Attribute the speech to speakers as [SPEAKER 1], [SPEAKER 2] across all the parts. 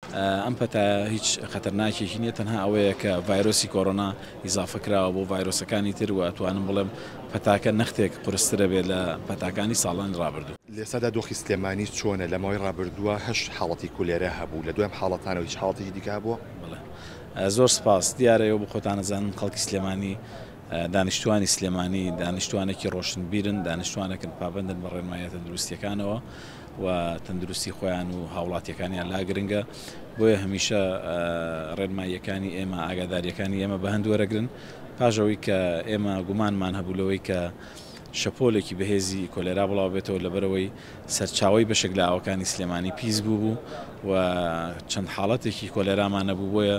[SPEAKER 1] ئەم پەتایە هیچ خەتەرناکێکی نییە تەنها ئەوەیە کە ڤایرۆسی کۆرۆنا ئیزافە کراوە بۆ ڤایرۆسەکانی تر و ئەتوانم بڵێم پەتاکە نەختێک قورسترە بێت لە پەتاکانی ساڵانی ڕابردوو. لێستادا دۆخی سلێمانی
[SPEAKER 2] چۆنە؟ لە ماوەی ڕابردووە هەشت حاڵەتی کولێرا هەبوو، لە دوای ئەم حاڵەتانەوە هیچ حاڵەتێکی دیکە هەبووە؟ بەڵێ. زۆر
[SPEAKER 1] سپاس. دیارە ئێوە بۆ خۆتان ئەزانن خەڵکی سلێمانی دانیشتوانی سلێمانی دانیشتوانێکی ڕۆشنبیرن، دانیشتوانێکن پابەندن بە ڕێنماییە تەندروستییەکانەوە و تەندروستی خۆیان و هاوڵاتیەکانیان لا گرنگە، بۆیە هەمیشە ڕێنماییەکانی ئێمە ئاگاداریەکانی ئێمە بە هەند وەرەگرن پاش ئەوەی کە ئێمە گومانمان هەبوو لەوەی کە شەپۆلێکی بەهێزی کۆلێرا بڵاوبێتەوە لەبەرەوەی سەرچاوی بەشێک لە ئاوەکانی سلێمانی پیس بوو بوو و چەند حاڵەتێکی کۆلێرامانە بوو بۆیە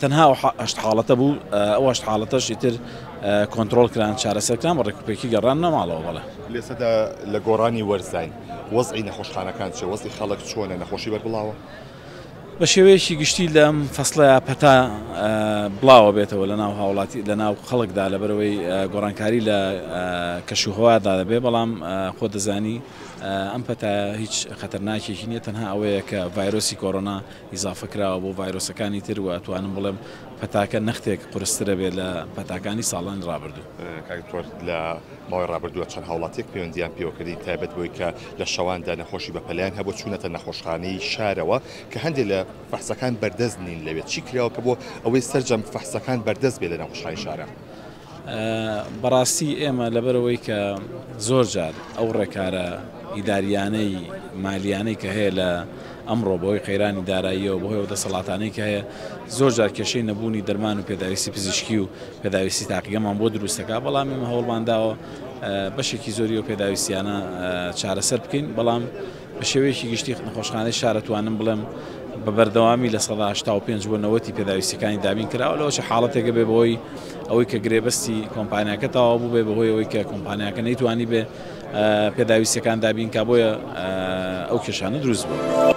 [SPEAKER 1] تەنها ئەو هەشت حاڵەتە بوو، ئەو هەشت حاڵەتەش ئیتر کۆنترۆڵ کران، چارەسەر کران و ڕێکوپێکی گەڕاننە ماڵەوە. بەڵێ. لێسەدا لە
[SPEAKER 2] گۆڕانی وەرزاین، وەزعی نەخۆشخانەکان چییە؟ وەزعی خەڵک چۆنە؟ نەخۆشی بەربڵاوە؟ بە
[SPEAKER 1] شێوەیەکی گشتی لەم فەسڵەیا پەتا بڵاوە بێتەوە لە ناو هاوڵاتی لە ناو خەڵکدا لەبەرەوەی گۆڕانکاری لە کەشوهەوادا دەبێت، بەڵام خۆت دەزانی ئەم پەتایە هیچ خەتەرناکێکی نییە، تەنها ئەوەیە کە ڤایرۆسی کۆرۆنا ئیزافە کراوە بۆ ڤایرۆسەکانی تر و ئەتوانم بڵێم پەتاکە نەختێک قورسترە بێت لە پەتاکانی ساڵانی ڕابردوو. کاک دکتۆر لە
[SPEAKER 2] ماوەی ڕابردووە چەند هاوڵاتیەک پەیوەندیان پێوە کردین تایبەت بەوەی کە لە شەواندا نەخۆشی بەپەلەیان هەبوو چوونەتە نەخۆشخانەی شارەوە کە هەندێک لە فەحسەکان بەردەست نین لەوێ چی کراوە کە بۆ ئەوەی سەرجەم فەحسەکان بەردەست بێت لە نەخۆشخانەی شارە؟
[SPEAKER 1] بەڕاستی ئێمە لەبەرئەوەی کە زۆر جار ئەو ڕێکارە ئیداریانەی مالیانەی کە هەیە لە ئەمڕۆ بەوەی قەیرانی داراییەوە بەهۆی ئەو دەسەڵاتانەی کە هەیە زۆر جار کێشەی نەبوونی دەرمان و پێداویستی پزیشکی و پێداویستی تاقیگەمان بۆ دروستەکە بەڵام ئێمە هەوڵمانداوە بەشێکی زۆری و پێداویستیانە چارەسەر بکەین بەڵام بە شێوەیەکی گشتی نەخۆشخانەی شار ئەتوانم بڵێم بە بەردەوامی لە سەدا هەشتا و پێنج بۆ نەوەتی پێداویستیەکانی دابین کراوە لەوە چ حاڵەتێکە بێ بەهۆی ئەوەی کە گرێبەستی کۆمپانیاکە تەواو بوو بێ بەهۆی ئەوەی کە کۆمپانیاکە نەیتوانی بێ پێداویستیەکان دابین کا بۆیە ئەو کێشانە دروست بوو.